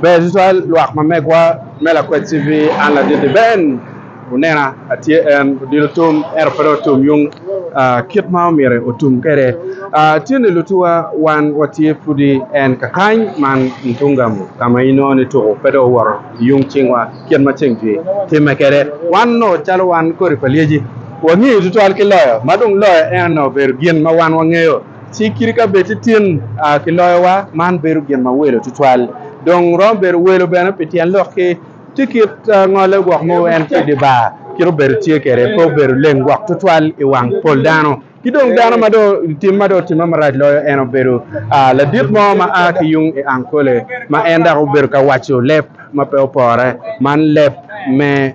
Ber tutwal lwak ma megwa me Lakwed TV, an Ladidi Ben. Wunena atye en, odilo tum ento pe dong otum yung ah, kit ma omyero otum kwede. Ah, tye ni lutuwa wan watye pudi en kakany man Ntungamo ka ma inongo ni tuku pe dong owoto i yung cingwa kit ma ceng tye timme kwede. Wan nongo calo wan kodi pa lyeci wangeyo tutwal ki loyo ma dong loyo en nongo obedo gin ma wan wangeyo. Ci kit ka bed titin kiloyowa, man bedo gin ma welo tutwal. Dong romo bedo welo bene pi tyen lok ki ti kit ngole gwok mogo en ki i dye bar. Kit obedo tye kwede pe obedo leng gwok tutwal i wang pol dano. Ki dong dano ma dong tim ma dong otimme marac loyo en obedo ladit mo ma a ki yung i Ankole ma en dok obedo ka waco leb ma pe opore man leb me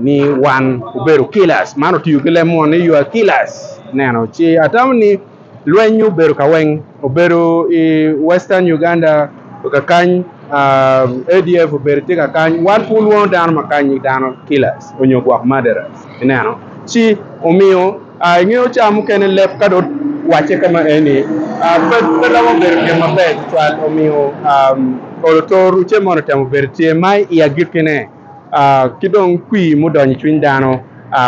ni wan obedo killers. Man otiyo ki leb moni you are killers neno ci atamo ni lweny obedo kaweng obedo i western Uganda kakany ADF obedo tye kakany wan pud lwongo dano makanyi dano killers onyo gwok murderers ineno ci omiyo ingeyo ca mukene leb ka dong wacce kama eni pe romo bedo gin maber tutwal omiyo olo to rucce moni otemo bedo tye ma i agikine ki dong kwir mudonyo i cwiny dano.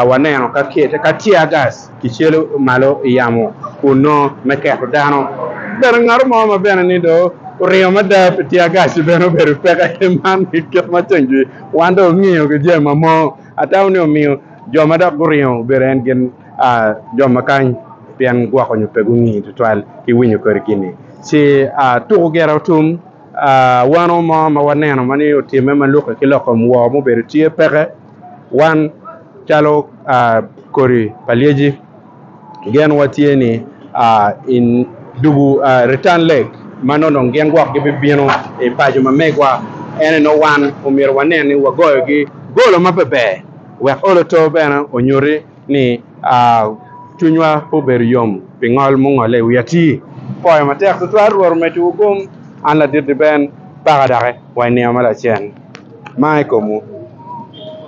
Waneno ka tiagas kicelo malo i yamo kun nongo me keto dano. Bene ngat mo ma bene ni dong oringo mada pi tiagas-ci bene obedo peke. Man kit ma ceng-ki wan dong wungeyo ki jami ma mo. Atamo ni omiyo jo ma dok guringo obedo en gin jo ma kany pien gwok onyo pe gunge tutwal ki winyo kodi gin-ni. Ci tuko gire otum. Wano mo ma waneno ma ni otimme ma lukke ki lok kom woo mubedo tye peke wan calo kodi pa lyeci gen watye ni i dugu Return Leg ma nongo dong gin gwok gibibino i paco ma megwa. Ene nongo wan omyero wanen ni wagoyogi golo ma pe ber wek olo too bene onyuti. ni cwinywa pe obedo yom pi ngol mungolle i wi atir poyo matek tutwal. Rwot omeddiwu gom, an ladit-ti ben, paka doki wa i nino ma lacen ma i komwu.